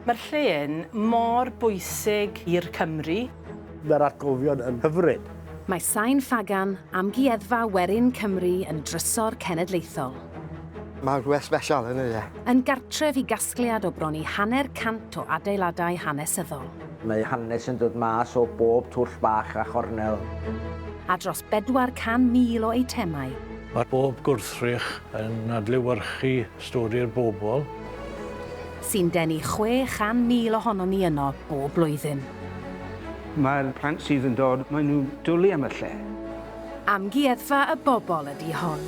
Mae'r lle yn mor bwysig i'r Cymry. Mae'r atgofion yn hyfryd. Mae Sain Ffagan, Amgueddfa Werin Cymru yn drysor cenedlaethol. Mae'n rhywbeth sbesial, yn y lle. Yn gartref i gasgliad o bron i hanner cant o adeiladau hanesyddol. Mae hanes yn dod mas o bob twll bach a chornel. A dros 400,000 o eitemau. Mae pob gwrthrych yn adlewyrchu Stori'r bobl. Sy'n denu 600,000 ohonon ni yno bob blwyddyn. Mae'r plant sydd yn dod, maen nhw'n dwlu am y lle. Amgueddfa y bobl ydy hon.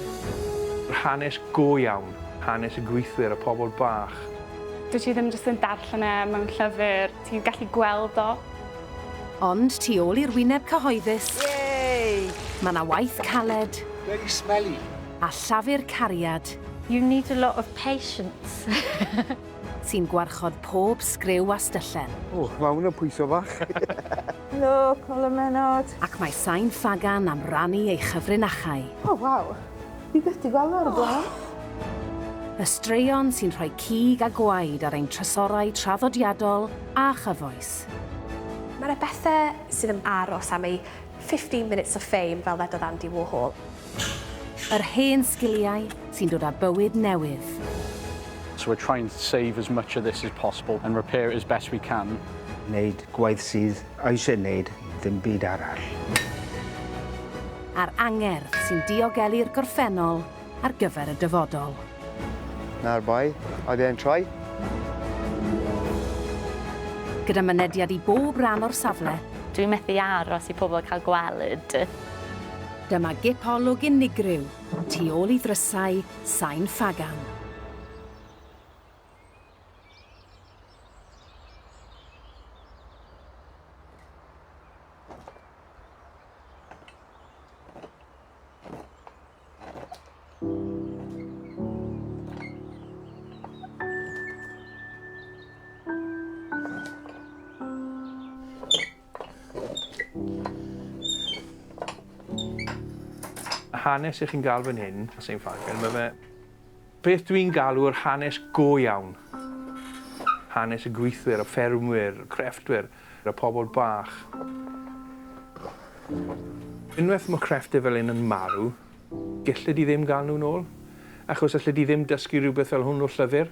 Hanes go iawn, hanes y gweithwyr, y pobl bach. Dwyt ti ddim jyst yn darllen e mewn llyfr, ti'n gallu gweld o. Ond tu ôl i'r wyneb cyhoeddus, mae 'na waith caled. Very smelly. a llafur cariad. You need a lot of patience. Sy'n gwarchod pob sgriw a styllen. O, mae hwn yn pwyso fach. Helo, Colum Menard. Ac mae Sain Ffagan am rannu ei chyfrinachau. O, waw. Fi byth di gweld o'r blaen. Oh. Y straeon sy'n rhoi cig a gwaed ar ein trysorau traddodiadol a chyfoes. Mae yna bethau sydd yn aros am ei 15 minutes of fame fel ddedodd Andy Warhol. Yr hen sgiliau sy'n dod â bywyd newydd. So we're trying to save as much of this as possible and repair it as best we can. Wneud gwaith sydd eisiau wneud ddim byd arall. A'r angerdd sy'n diogelu'r gorffennol ar gyfer y dyfodol. Na'r bai, I then try. Gyda mynediad i bob ran o'r safle. Dwi methu aros i pobl cael gweld. Dyma gip olwg unigryw tu ôl i ddrysau sain ffagan. hanes i chi'n gael fan hyn, a St Falcon, mae fe beth dwi'n galw'r hanes go iawn. Hanes y gweithwyr, y ffermwyr, y crefftwyr, y pobl bach. Unwaith mae crefftwyr fel un yn marw, gellid i ddim gael nhw'n ôl, achos allai di ddim dysgu rhywbeth fel hwn o llyfr.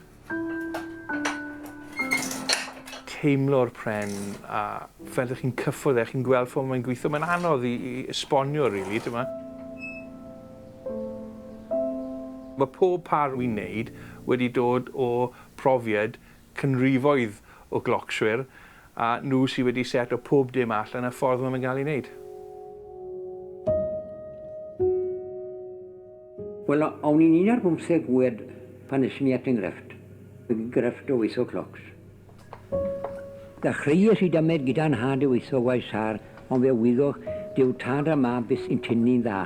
teimlo'r pren a fel dych chi'n cyffwrdd e, chi'n gweld ffordd mae'n gweithio, mae'n anodd i, i esbonio rili, really, dyma. Mae pob par wi'n neud wedi dod o profiad cynrifoedd o glocswyr, a nhw sydd wedi seto pob dim allan y ffordd maen nhw'n cael ei wneud. Wel, o'n i'n un ar bymtheg oed pan es mi at enghraifft, y grefft o weithio clocs. Ddechreuais i dymed gyda nhad i weithio waith sâr, ond fe wyddoch, dyw tad a mab byth yn tynnu'n dda.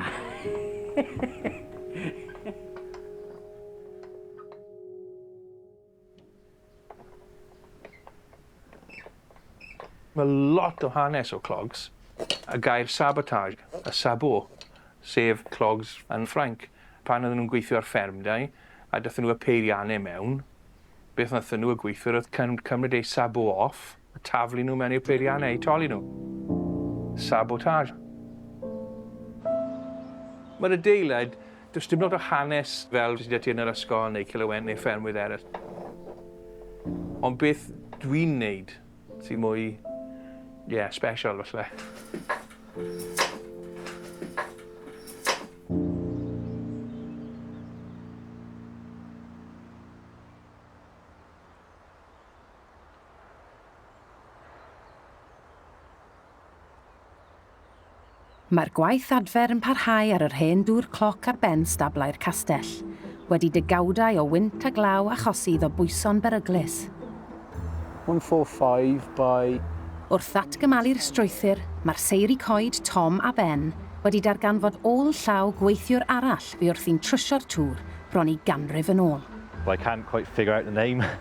Mae lot o hanes o clogs, y gair sabotage, y sabot, sef clogs yn Ffrainc. Pan oedden nhw'n gweithio ar fferm da i, a daethon nhw â peiriannau mewn, beth wnaethon nhw, y gweithwyr oedd cymryd eu sabot off, a taflu nhw mewn i'r peiriannau eu toli nhw. Sabotage. Mae'r adeilad, does dim lot o hanes fel sydd ti yn yr ysgol neu Cilywent neu ffermwydd eraill. Ond beth dwi'n neud sy'n mwy, ie, yeah, special falle. Mae'r gwaith adfer yn parhau ar yr hen dŵr cloc ar ben stablau'r castell, wedi degawdau o wynt a glaw achosi iddo bwyso'n beryglus. 145 by Wrth ddatgymalu'r strwythur, mae'r seiri coed Tom a Ben wedi darganfod ôl llaw gweithiwr arall fu wrthi'n trwsio'r tŵr bron i ganrif yn ôl. But I can't quite figure out the name.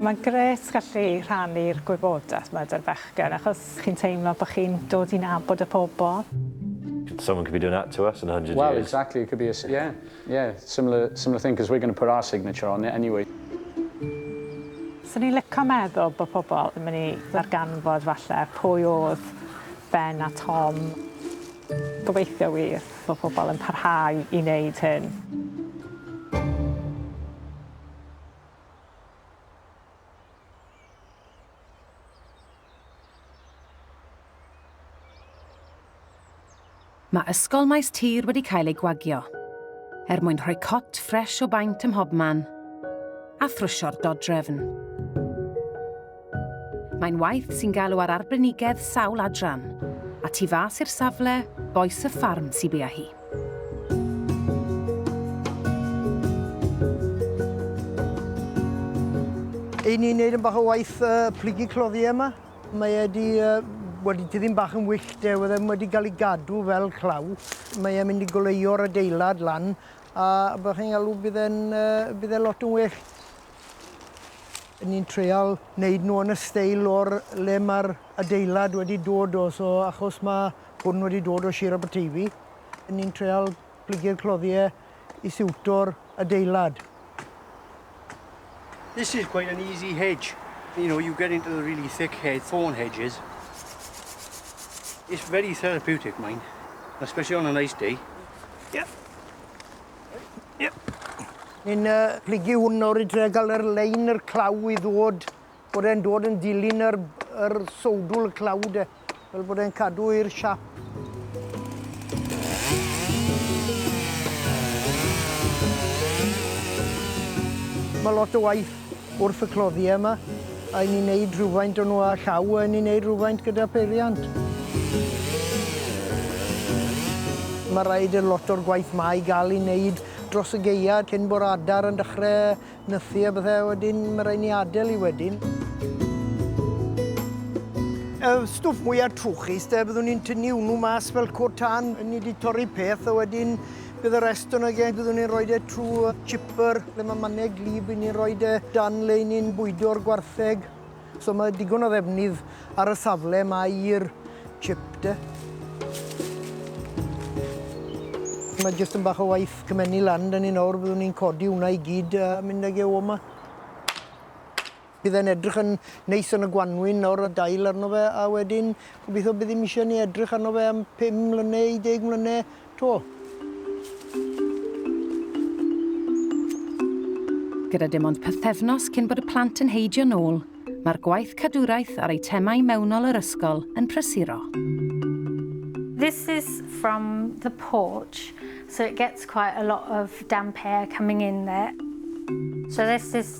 Mae'n grêt gallu rhannu'r gwybodaeth 'ma 'da'r bechgyn achos chi'n teimlo bo' chi'n dod i nabod y pobol. Someone could be doing that to us in a hundred years. Well exactly it could be a si- yeah yeah similar similar thing cos we're gonna put our signature on it anyway. Swn i'n lico meddwl bo' pobol yn myn' i ddarganfod falle pwy o'dd Ben a Tom. Gobeithio wir. Mae pobl yn parhau i wneud hyn. Mae Ysgol Maes Tir wedi cael ei gwagio er mwyn rhoi cot ffres o baent ym mhobman a thrwsio'r dodrefn. Mae'n waith sy'n galw ar arbenigedd sawl adran, a tu fas i'r safle, bois y ffarm sy'n bia hi. Ei ni'n neud yn bach o waith uh, plygu cloddiau yma. Mae wedi uh, wedi diddi'n bach yn wyllt e, wedi, wedi cael ei gadw fel claw. Mae e'n mynd i goleuo'r adeilad lan, a byddwch chi'n galw bydd e'n uh, bydd e lot yn well. Ni'n treial neud nhw yn y steil o'r le ma'r adeilad wedi dod o so achos ma' hwn wedi dod o Shir Aberteifi ni'n treial plygu'r cloddiau i siwto'r adeilad. This is quite an easy hedge. You know, you get into the really thick hedge, thorn hedges. It's very therapeutic, mine, especially on a nice day. Yep. Ni'n uh, plygu hwn nawr i trio gael yr lein yr claw i ddod, bod e'n dod yn dilyn yr, yr sowdwl y claw de, fel bod e'n cadw i'r siap. Mae lot o waith Wrth y cloddiau yma, a 'yn ni'n neud rhywfaint o nhw â llaw, a 'yn ni'n neud rhywfaint gyda pheiriant. Ma' raid i lot o'r gwaith 'ma i ga'l 'i neud dros y gaea cyn bo'r adar yn dechre nythu a bethe, a wedyn ma' raid ni adel 'i wedyn. Y stwff mwya trwchus 'de, byddwn ni'n tynnu wnnw mas fel cod tân, 'yn ni 'di torri peth a wedyn Bydd y rest o'n ag e, byddwn ni'n rhoi e trwy chipper, le mae mannau glib, i ni'n rhoi e dan le i ni'n bwydo'r gwartheg. So mae digon o ddefnydd ar y safle yma i'r chip de. Mae jyst yn bach o waith cymennu lan, dyn ni nawr, byddwn ni'n codi hwnna i gyd a mynd ag e o yma. Bydd e'n edrych yn neis yn y gwanwyn nawr a dail arno fe a wedyn gobeithio bydd ddim eisiau ni edrych arno fe am 5 mlynedd i 10 mlynedd 'to. Gyda dim ond pythefnos cyn bod y plant yn heidio nôl, mae'r gwaith cadwraeth a'r eitemau mewnol yr ysgol yn prysuro. This is from the porch, so it gets quite a lot of damp air coming in there. So this is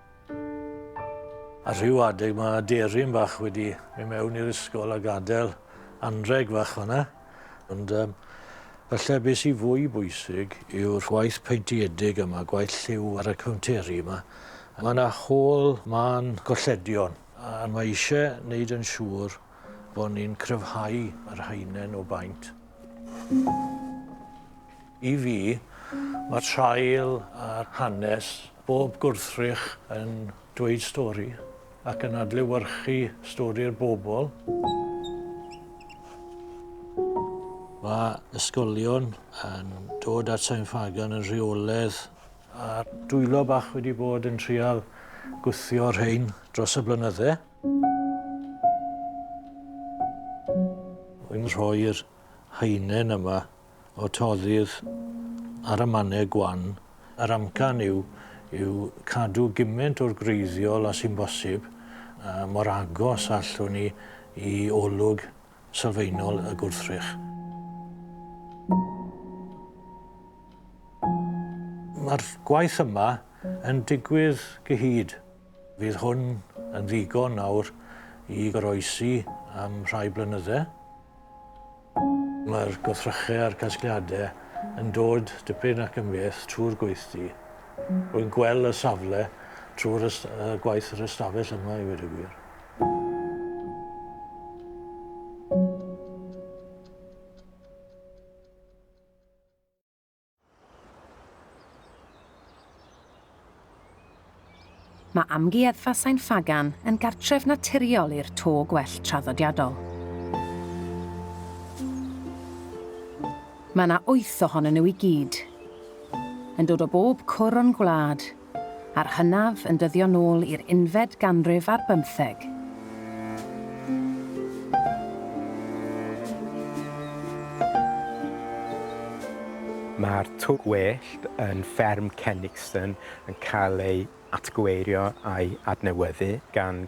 Ar rhyw adeg mae aderyn bach wedi mynd mewn i'r ysgol a gadael anrheg fach fan'na. Ond um, falle beth sy'n fwy bwysig yw'r gwaith peintiedig yma, gwaith lliw ar y cownteri yma. Mae yna hôl man golledion a mae eisiau wneud yn siŵr bod ni'n cryfhau yr haenen o baint. I fi, mae traul a'r hanes Bob gwrthrych yn dweud stori ac yn adlewyrchu stori'r bobl. Mae ysgolion yn dod at Sain Ffagan yn rheoledd. A dwylo bach wedi bod yn trial gwthio rhein dros y blynydde. Yn rhoi'r haenen yma o toddydd ar y mannau gwan, yr amcan yw yw cadw gymaint o'r gwreiddiol a sy'n bosib mor agos a allwn ni i olwg sylfaenol y gwrthrych. Mae'r gwaith yma yn digwydd gyhyd. Fydd hwn yn ddigon nawr i goroesi am rhai blynyddau. Mae'r gwrthrychau a'r casgliadau yn dod dipyn ac yn fyth trwy'r gweithdy. Rwy'n gweld y safle trwy'r gwaith yr ystafell yma, i weud y gwir. Mae Amgueddfa Sain Ffagan yn gartref naturiol i'r to gwellt traddodiadol. Mae yna wyth ohonyn nhw i gyd, yn dod o bob cwr o'n gwlad, a'r hynaf yn dyddio nôl i'r unfed ganrif ar bymtheg. Mae'r tŷ gwyllt yn Fferm Cenixton yn cael ei atgyweirio a'i adnewyddu gan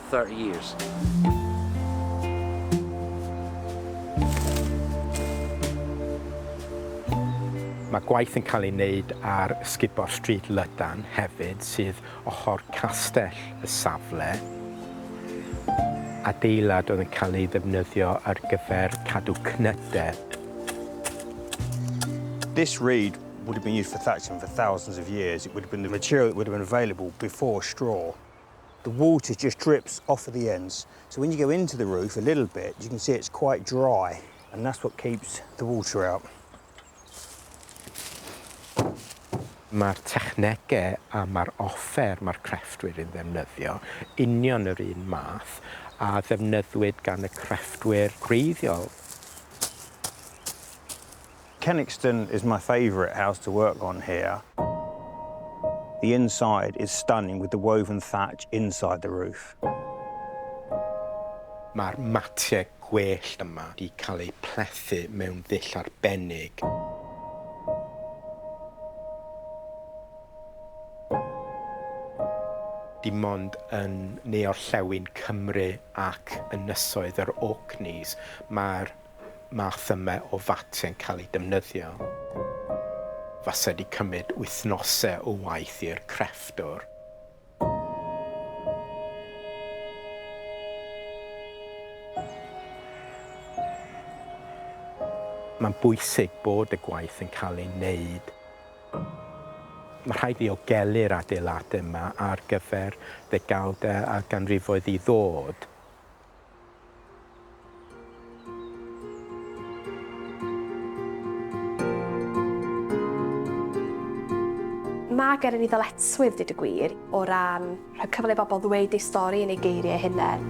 30 years. Mae gwaith yn cael ei wneud ar Sgubor Street Lydan hefyd sydd ochr castell y safle. Adeilad oedd yn cael ei ddefnyddio ar gyfer cadw cnydau. This reed would have been used for thatching for thousands of years. It would have been the material that would have been available before straw. the water just drips off of the ends. So when you go into the roof a little bit, you can see it's quite dry, and that's what keeps the water out. Mae'r technegau a mae'r offer mae'r crefftwyr yn ddefnyddio union yr un math a ddefnyddwyd gan y crefftwyr gwreiddiol. Kenixton is my favourite house to work on here. The inside is stunning with the woven thatch inside the roof. Mae'r matiau gwellt yma wedi cael eu plethu mewn ddull arbennig. Dim ond yn ne-orllewin Cymru ac ynysoedd yr Orkneys mae'r math yma o fatiau'n cael eu defnyddio, fasai 'di cymryd wythnosau o waith i'r crefftwr. Mae'n bwysig bod y gwaith yn cael ei wneud. Mae rhaid ddiogelu'r adeiladau yma ar gyfer ddegawdau a ganrifoedd i ddod. Mae gen i ni ddyletswydd, dweud y gwir, o ran rhoi cyfle i bobl ddweud eu stori yn eu geiriau eu hunain.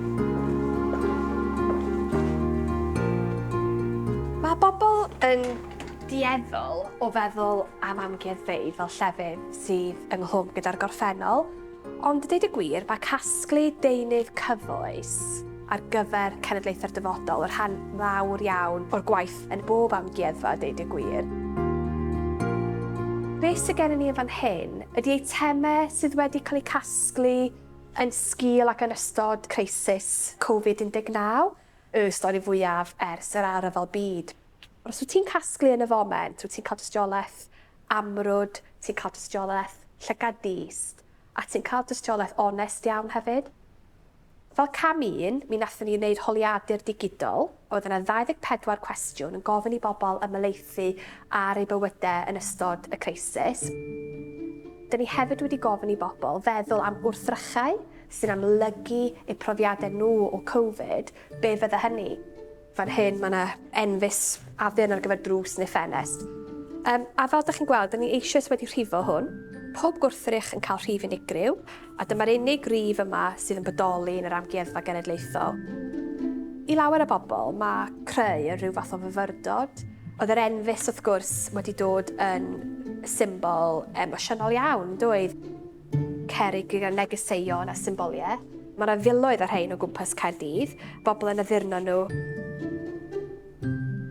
Mae bobl yn dueddol o feddwl am amgueddfeydd fel llefydd sydd ynghlwm gyda'r gorffennol, Ond deud y gwir, mae casglu deunydd cyfoes ar gyfer cenedlaethau'r dyfodol yn rhan fawr iawn o'r gwaith yn bob amgueddfa, deud y gwir. Beth sydd gennym ni yn fan hyn ydy eitemau sydd wedi cael eu casglu yn sgil ac yn ystod crisis Covid 19, y stori fwyaf ers yr Ail Ryfel Byd. Os wyt ti'n casglu yn y foment, wyt ti'n cael tystiolaeth amrwd, ti'n cael tystiolaeth llygad dyst, a ti'n cael tystiolaeth onest iawn hefyd. Fel cam un, mi wnaethon ni wneud holiadur digidol, oedd yna 24 cwestiwn yn gofyn i bobl ymhelaethu ar eu bywydau yn ystod y creisis. Dyn ni hefyd wedi gofyn i bobl feddwl am wrthrychau sy'n amlygu eu profiadau nhw o Covid, be fydde hynny? Fan hyn mae 'na enfys addurn ar gyfer drws neu ffenest. Um, a fel ydych chi'n gweld, da ni eisioes wedi rhifo hwn. Pob gwrthrych yn cael rhif unigryw, a dyma'r unig rif yma sydd yn bodoli yn yr Amgueddfa Genedlaethol. I lawer o bobl, mae creu yn rhyw fath o fyfyrdod. Oedd yr enfys, wrth gwrs, wedi dod yn symbol emosiynol iawn, doedd? Cerrig gyda negeseuon a symboliau. Mae yna filoedd o rhein o gwmpas Caerdydd, bobl yn addurno nhw.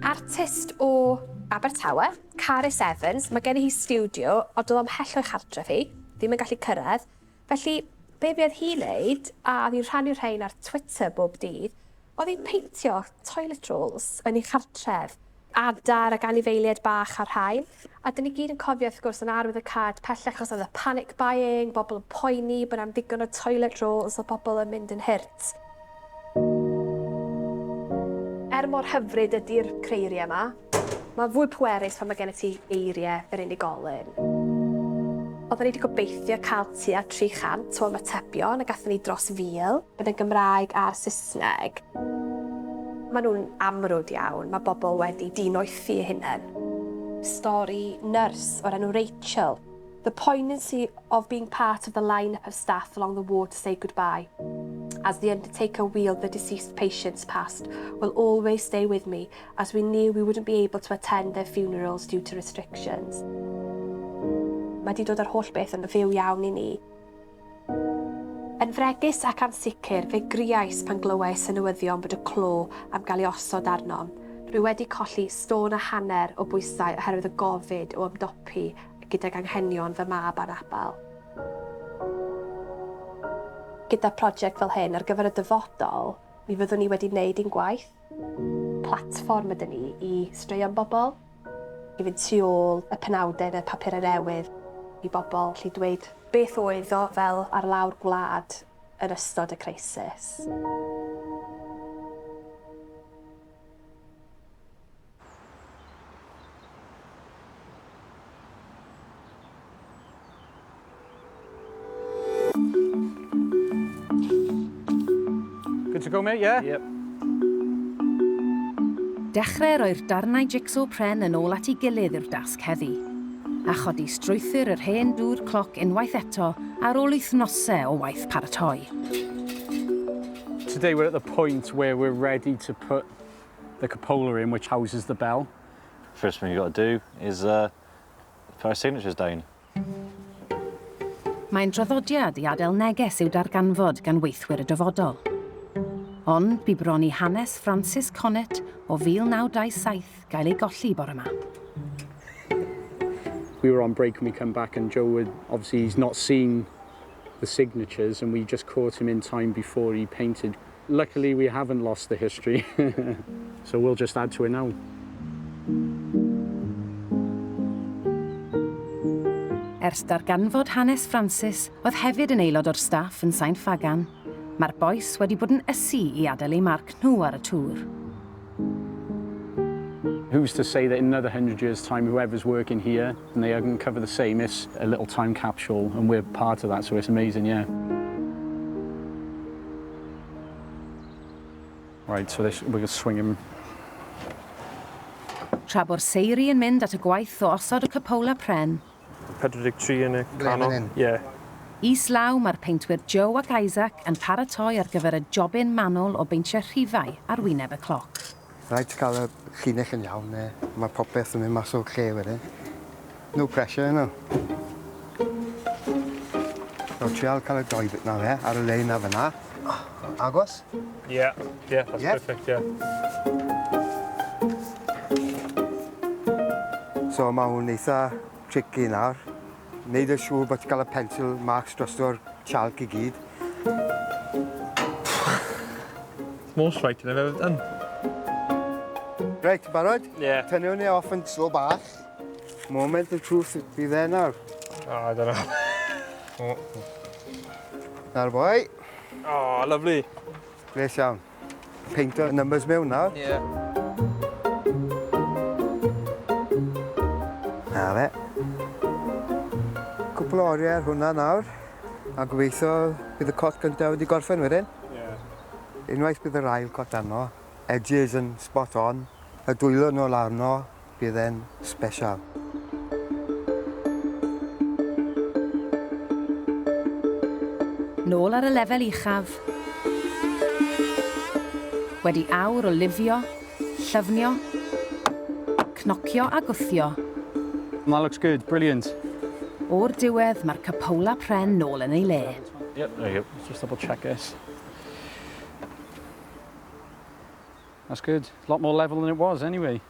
Artist o Abertawe, Carys Evans, mae gennyf hi stiwdio, ond oedd o ymhell o'i chartref hi, ddim yn gallu cyrraedd. Felly, be fuodd hi'n wneud, a oedd hi'n rhannu'r rhain ar Twitter bob dydd, oedd hi'n peintio toilet rolls yn ei chartref, Adar ac anifeiliaid bach a'r rhain. A 'dyn ni gyd yn cofio wrth gwrs yn arwydd y cad pellach os oedd y panic buying, bobl yn poeni bod 'na'm ddigon o toilet rolls a pobl yn mynd yn hurt. Er mor hyfryd ydi'r creiriau 'ma, mae fwy pwerus pan mae gennyt ti eiriau yr unigolyn. Oedden ni 'di gobeithio cael tua 300 o ymatebion a gathon ni dros 1,000. yn y Gymraeg a'r Saesneg. Maen nhw'n amrwd iawn, mae bobl wedi dinoethi eu hunain. Stori nyrs o'r enw Rachel, The poignancy of being part of the line-up of staff along the ward to say goodbye as the undertaker wheeled the deceased patients past will always stay with me as we knew we wouldn't be able to attend their funerals due to restrictions. Mae di dod ar holl beth yn fyw iawn i ni. Yn fregus ac ansicr, fe griais pan glywais y newyddion bod y clo am gael ei osod arnom. Rwy wedi colli stôn a hanner o bwysau oherwydd y gofid o ymdopi gydag anghenion fy mab anabl. Gyda project fel hyn ar gyfer y dyfodol, mi fyddwn ni wedi wneud ein gwaith. Platfform ydyn ni i straeon bobl. i fynd tu ôl y penawdau yn y papurau newydd i bobl allu dweud beth oedd o fel ar lawr gwlad yn ystod y crisis. Good to go, mate, yeah? Yep. Dechrau roi'r darnau jigsaw pren yn ôl at ei gilydd yw'r dasg heddi, a chodi strwythur yr hen dŵr cloc unwaith eto ar ôl wythnosau o waith paratoi. Today we're at the point where we're ready to put the cupola in which houses the bell. First thing you've got to do is uh, put our signatures down. Mae'n draddodiad i adael neges i'w darganfod gan weithwyr y dyfodol. Ond bu bron i hanes Francis Connett o 1927 gael ei golli bore ma. We were on break and we come back and Joe would, obviously he's not seen the signatures and we just caught him in time before he painted Luckily we haven't lost the history so we'll just add to it now. Ers darganfod hanes Francis, oedd hefyd yn aelod o'r staff yn Sain Ffagan, mae'r bois wedi bod yn ysu i adael eu marc nhw ar y tŵr. Who's to say that in another hundred years time whoever's working here And they hug and cover the same, it's a little time capsule and we're part of that so it's amazing, yeah. Right, so this, we're going to swing him Tra bo'r seiri yn mynd at y gwaith o osod y cupola pren. 43 yn y canol. Yeah. Is law mae'r peintwyr Joe ac Isaac yn paratoi ar gyfer y jobyn manwl o beintio rhifau ar wyneb y cloc. Rhaid ti cael y llinell yn iawn ne mae popeth yn mynd mas o'r lle wedyn. No pressure yno. Nawr trial cael y doi bit na fe, ar y lein na fyna. Agos? Yeah, yeah, that's yeah. perfect, yeah. So mae hwn eitha tricky nawr. Neud yn siŵr bod ti'n cael y pencil marks drosto'r chalc i gyd. It's more striking I've ever done. Reit, barod? Ie. Yeah. Tynnu hwnna off yn slo bach. Moment of truth fi dde nawr. O, oh, dyna. Nawr boi. O, oh, lyflu. Gles iawn. Peintio'r numbers mewn nawr. Ie. Yeah. Na fe. Cwpl o oriau ar hwnna nawr. A gobeithio bydd y cot gyntaf wedi gorffen wedyn. Ie. Yeah. Unwaith bydd yr ail cot arno, edges yn spot on, y dwylo nôl arno, bydd e'n sbesial. Nôl ar y lefel uchaf. Wedi awr o lifio, llyfnio, cnocio a gwthio. That looks good, brilliant! O'r diwedd, mae'r cuphola pren nôl yn ei le. Yep, there you go. Let's just double check this. That's good. Lot more level than it was, anyway.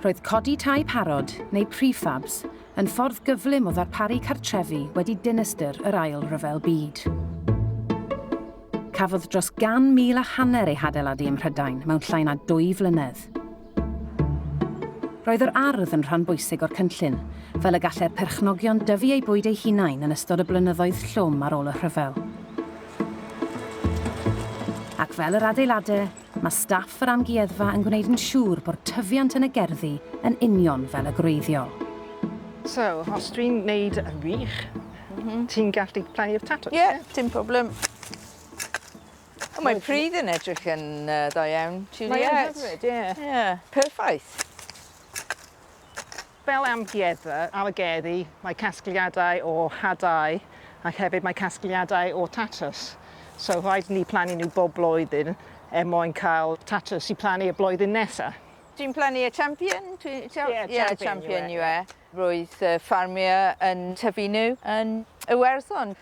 Roedd codi tai parod, neu prefabs, yn ffordd gyflym o ddarparu cartrefi wedi dinistr yr Ail Ryfel Byd. Cafodd dros gan mil a hanner ei hadeiladu ym Mhrydain mewn llai na dwy flynedd. Roedd yr ardd yn rhan bwysig o'r cynllun, fel y gallai'r perchnogion dyfu eu bwyd eu hunain yn ystod y blynyddoedd llwm ar ôl y rhyfel. Ac fel yr adeilade, mae staff yr amgueddfa yn gwneud yn siŵr bod tyfiant yn y gerddi yn union fel y gwreiddiol. So, os dwi'n neud yn wych, ti'n gallu plannu'r tatws? Ie, dim problem. O mae pridd yn edrych yn yy dda iawn. Juliet. Mae yn hyfryd ie. Ie. Perffaith. Fel amgueddfa ar y gerddi mae casgliadau o hadau ac hefyd mae casgliadau o tatws. So rhaid ni plannu nhw bob blwyddyn er mwyn cael tatws i plannu y blwyddyn nesa. Dwi'n plannu y champion dwi t'o'? Ie ie champion yw e. Roedd yy ffarmio yn tyfu nhw yn Iwerddon.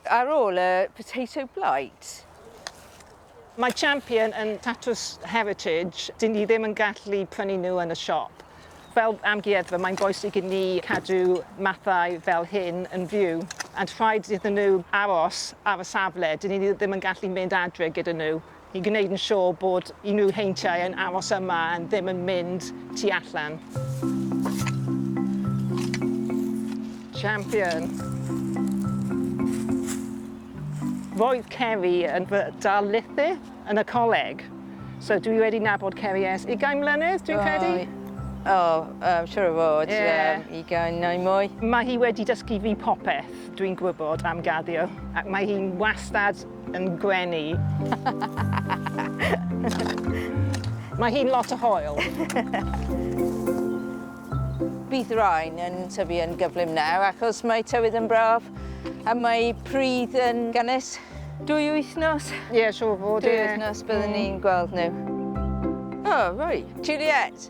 Ar ôl y potato blight. Mae Champion yn tatws heritage, dyn ni ddim yn gallu prynu nhw yn y siop. Fel amgueddfa mae'n bwysig i ni cadw mathau fel hyn yn fyw and rhaid iddyn nhw aros ar y safle, dyn ni ddim yn gallu mynd adre gyda nhw. i gwneud yn siŵr bod unrhyw heintiau yn aros yma a ddim yn mynd tu allan. Champion! Roedd Ceri yn fy darlithydd yn y coleg, so dwi wedi nabod Ceri ers ugain mlynedd, dwi'n credu. O, um, siwr o fod, yeah. um, ugain neu mwy. Mae hi wedi dysgu fi popeth dwi'n gwybod am gaddio, ac mae hi'n wastad yn gwenu. Mae hi'n lot o hoel. Bydd rhain yn tyfu yn gyflym nawr achos mae tywydd yn braf a mae pridd yn gynnes. Dwy wythnos? Ie, yeah, siŵr fod. Dwy wythnos byddwn ni'n gweld nhw. O, oh, roi. Juliet!